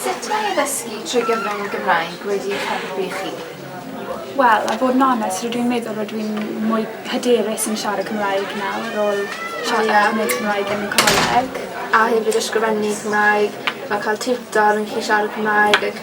Sut mae addysgu trwy gyfrwng y Gymraeg wedi eich helpu chi? Wel, a bod yn onest, rydw i'n meddwl rydw i'n mwy hyderus yn siarad Cymraeg nawr ar ôl siarad a gwneud Cymraeg yn coleg. A hefyd ysgrifennu Cymraeg, fel cael tiwtor yn gallu siarad Cymraeg ac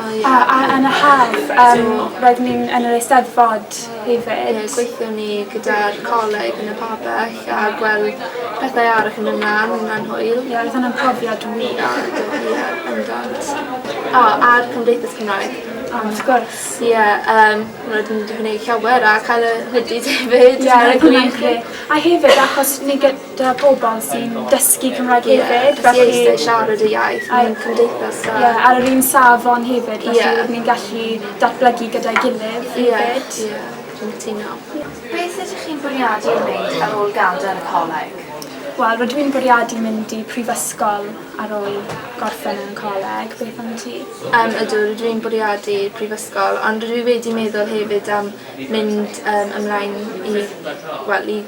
A a yn y haf yym roeddwn i'n yn yr Eisteddfod hefyd. Ie gweithion ni gyda'r coleg yn y pabell a gweld pethau arall yn myn' mlan yn Nant Hwyl. Ie roedd hwnna'n profiad wych. Ia do ie bendant. O a'r Cymdeithas Cymraeg. O wrth gwrs. Ie yym roedd yn 'di gwneu' llawer a cael y hoodies hefyd. Ie roedd hwnna'n grêt. A hefyd achos ni gy- 'da pobl sy'n dysgu Cymraeg hefyd felly... ...sy'n dwysau siarad y iaith mewn cymdeithas da. Ie ar yr un safon hefyd felly... Ie. ...ni'n gallu datblygu gyda'i gilydd hefyd. Ie ie dwi'n cytuno. Beth ydych chi'n bwriadu ei wneud ar ôl gadael y coleg? Wel rydw i'n bwriadu mynd i prifysgol ar ôl gorffen yn y coleg. Beth am ti? Yym ydw rydw i'n bwriadu prifysgol ond rydw i wedi meddwl hefyd am mynd yym ymlaen i wel i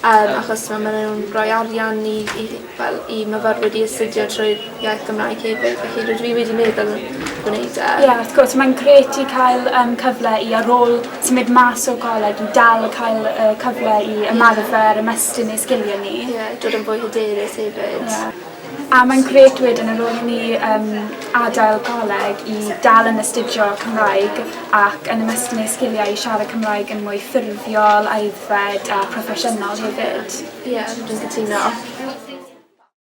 Yym achos t'mo' ma' nw'n roi arian i i fel i myfyrwyr i astudio trwy'r iaith Gymraeg hefyd felly rydw i wedi meddwl gwneud e. Ie wrth gwrs mae'n grêt i cael yym cyfle i ar ôl symud mas o goleg i dal cael y cyfle i ymarfer ymestyn ei sgilie ni. Ie dod yn fwy hyderus hefyd. Ie. A mae'n grêt wedyn ar ôl i ni yym adael coleg i dal yn astudio Cymraeg ac yn ymestyn eu sgiliau i siarad Cymraeg yn mwy ffurfiol, aeddfed a phroffesiynol hefyd. Ie, dwi'n cytuno.